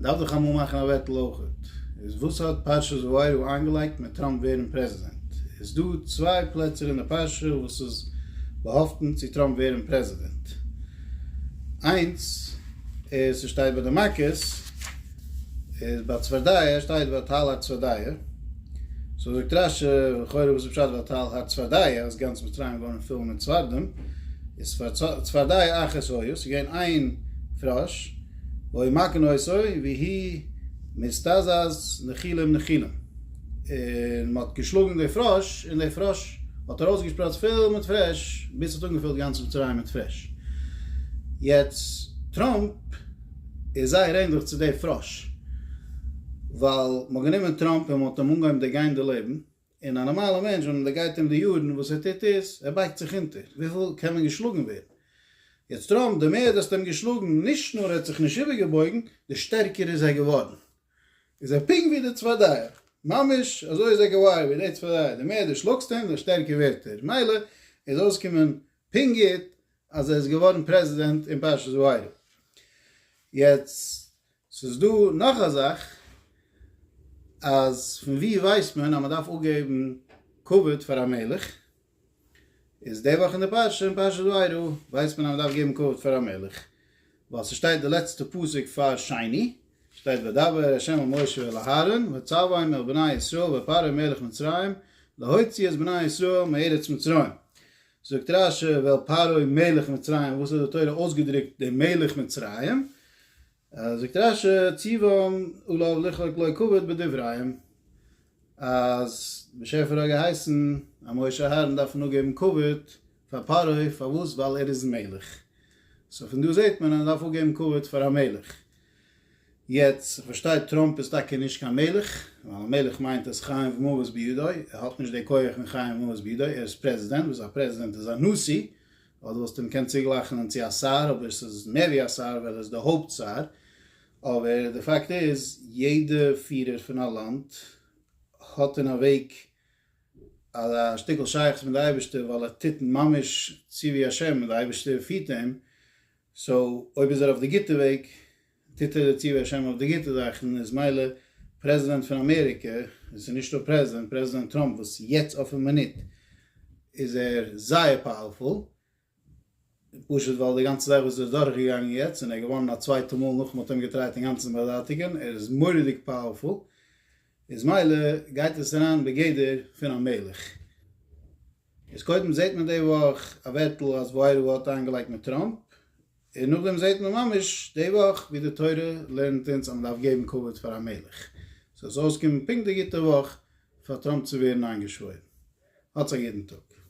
מען דארף דאך אמאל מאכן א וועטל אויכעט. איז וואס האט פרשת וארא איינגעלייגט מיט טראמפ ווערן פרעזידענט? איז דא צוויי פלעצער אין די פרשה וואס איז באהאפטן צו טראמפ ווערן פרעזידענט? איינס איז ס'שטייט ביי די מכות, איז ביי צפרדיה שטייט ואתל הצפרדיה, סאו זאגט רש י לכאורה וואס איז פשט ואתל הצפרדיה אז גאנץ מצרים איז געווארן פול מיט צפרדעים, איז צפרדיה אחת הויה, ס'איז געווען איין פראש, ואוי מה כן עשוי, והי' מסתזז נחילם נחילם. און מען האט געשלאגן די פראש, און די פראש האט ארויסגעשפראצט פיל מיט פרעש, ביז ס'האט אנגעפילט גאנץ מצרים מיט פרעש. יעצט, טראמפ איז זייער ענדליך צו די פראש, ווייל מען האט גענומען טראמפ און מען האט אים אנגעהויבן דערגיין די לעבן, און א נארמאלע מענטש ווען מען גייט אים די יארן וואס ער טוט איז ער בייגט זיך אונטער וויפיל קען מען געשלאגן ווערן. יעצט טראמפ די מער דאסט אים געשלאגן נישט נאר ער האט זיך נישט איבער געבויגן די שטערקער איז ער געווארן. איז ער פונקט ווי די צפרדעיער. ממש אזוי איז ער געוואר ווי די צפרדעיער די מער די שלאגסט אים די שטערקער ווערט ער מילא איז אויסקומען פונקט גוט אז ער איז געווארן פרעזידענט אין פרשת וירא. יעצט ס'איז דא נאך א זאך, אז פון ווי ווייסט מען אז מ'דארף אפגעבן כבוד פאר א מלך? איז די וואך אין די פרשה אין פרשת וירא ווייסט מען אז מ'דארף געבן כבוד פאר א מלך, ווייל ס'שטייט די לעצטע פסוק פאר שני, שטייט וידבר ה' אל משה ואל אהרן ויצווהם אל בני ישראל ויפרעה מלך מצרים להוציא את בני ישראל מארץ מצרים, זאגט רשי, ועל פרעה מלך מצרים, וואס האט די תורה אויסגעדרוקט דעם מלך מצרים? זאגט רשי, ציוואם עליו לחלוק לו כבוד בדבריהם, אז באשעפער האט געהייסן אז משה אהרן דארפן אפגעבן כבוד פאר פרעה, פארוואס? ווייל ער איז מלך, סאו פון דא זעט מען אז מען דארף אפגעבן כבוד פאר א מלך. יעצט איך פארשטיי טראמפ איז טאקע נישט קיין מלך, ווייל א מלך מיינט אז חיים ומוות בידו, ער האט נישט די כח פון חיים ומוות בידו, ער איז פרעזידענט, וואס א פרעזידענט איז א נשיא, אדער וואלסטו אים געקענט צוגלייכענען צו א שר, אבער ס'איז מער ווי א שר ווייל ער איז די הויפט שר, אבער די פאקט איז יעדע פירער פון א לאנד האט אין א וועג א שטיקל שייכות מיט די אייבערשטער ווייל ער טוט ממש צו ווי השם און די אייבערשטער פירט אים, סאו אויב איז ער אויף די גוטע וועג, טוט ער דערצו בעז השם אויף די גוטע זאכן, איז מילא פרעזידענט פון אמעריקע, עס איז נישטא פרעזידענט, פרעזידענט טראמפ וואס יעצט אויפן מינוט איז ער זייער פאוערפול, פשוט ווייל די גאנצע זאך וואס ער איז דורך געגאנגען יעצט, און ער איז געווארן א צווייטע מאל נאך מען האט אים געטרייט אינגאנצן באזייטיגען, ער איז מורא'דיג פאוערפול. איז מילא גייט עס אריין בגדר פון א מלך. איז קודם זעהט מען די וואך א ווערטל אז וואוירא האט איינגעלייגט מיט טראמפ, און נאכדעם זעהט מען ממש די וואך ווי די תורה לערנט אונז אז מען דארף געבן כבוד פאר א מלך. סאיז אויסגעקומען פונקט די גוטע וואך פאר טראמפ צו ווערן איינגעשוואוירן. האטס א גוטן טאג.